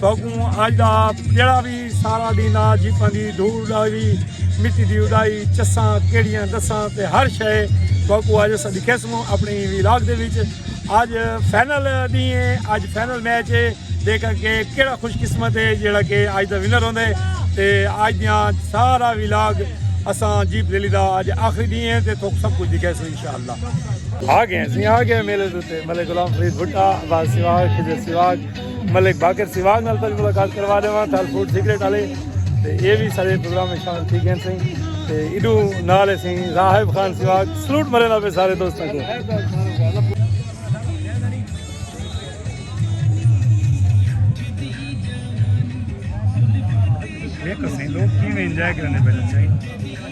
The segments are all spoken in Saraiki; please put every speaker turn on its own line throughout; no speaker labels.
ساکوں اج دا جیڑھا وی سارا ڈینھ آ جیپاں دی دھوڑ ڈائی مٹی دی اڈائی چساں کیڑیاں دساں تے ہر شے ساکوں اج اساں دکھیسوں اپنی ویلاگ دے وچ اج فائنل ڈینھ ہے اج فائنل میچ ہے دیکھا کہ کیڑا خوش قسمت ہے جیڑھا کہ اج دا ونر ہوندے تے اج دیاں سارا ویلاگ اساں جیپ ریلی دا اج آخری ڈینھ ہے تے تھوک سب کچھ دکھیسوں انشاءاللہ آ گئے ہیں آ گئے ہیں میلے تے ملے غلام فرید بھٹا آباد سیواگ خضر سیواگ ملک باقر سواگ نال تاں ملاقات کروا دے وہاں تال فوڈ سیکرٹ آلے تے اے بھی سارے پروگرام میں شامل تھی گئے ہیں سنگی تے ایڈو نال ہے سنگی راہب خان سواگ سلوٹ مرے نال پہ سارے دوست ہیں ایک سنگی لوگ کی میں انجائے کرنے پہلے چاہیے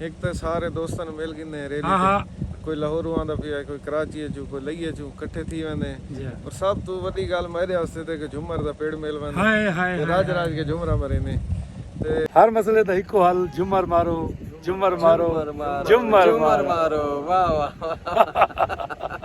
ہک تاں سارے دوستاں نوں مل گھندے ہیں ریلی تے کوئی لاہوروں آندا پیا ہے کوئی کراچی اچوں کوئی لئی اچوں کٹھے تھی ویندے ہیں پر سب توں وڈی گال میرے واسطے تے کہ جھمر دا پیڑ مل ویندے ہیں تے راج راج کے جھمرا مریندے ہیں ہر مسئلے دا ہکو حل جھمر مارو جھمر مارو جھمر مارو واہ واہ واہ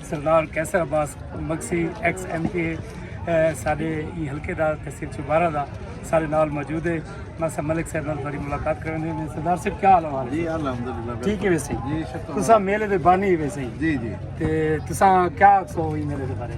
سردار Qaiser Abbas Magsi ex M P A سارے ای حلقے دا تحصیل چوبارہ دا سارے نال موجود ہے میں سب ملک صاحب نال تھوڑی ملاقات کرنے ہیں سردار صاحب کیا حال ہے جی الحمدللہ ٹھیک ہے ویسے جی شکر تسا میلے دے بانی ویسے جی جی تے تسا کیا سو ای میلے دے بارے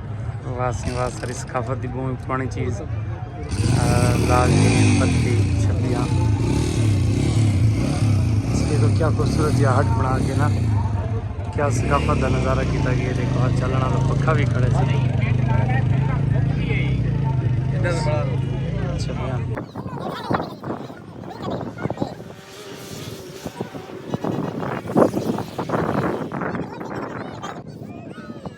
واہ ساری ثقافت دی بہت پرانی چیز لال جی پتی چھپیاں دیکھو کیا خوبصورت جہاں ہٹ بنا کے نا کیا ثقافت دا نظارہ کیتا گیا دیکھو ہر چلنا دا پکھا بھی کھڑے سے چھپیاں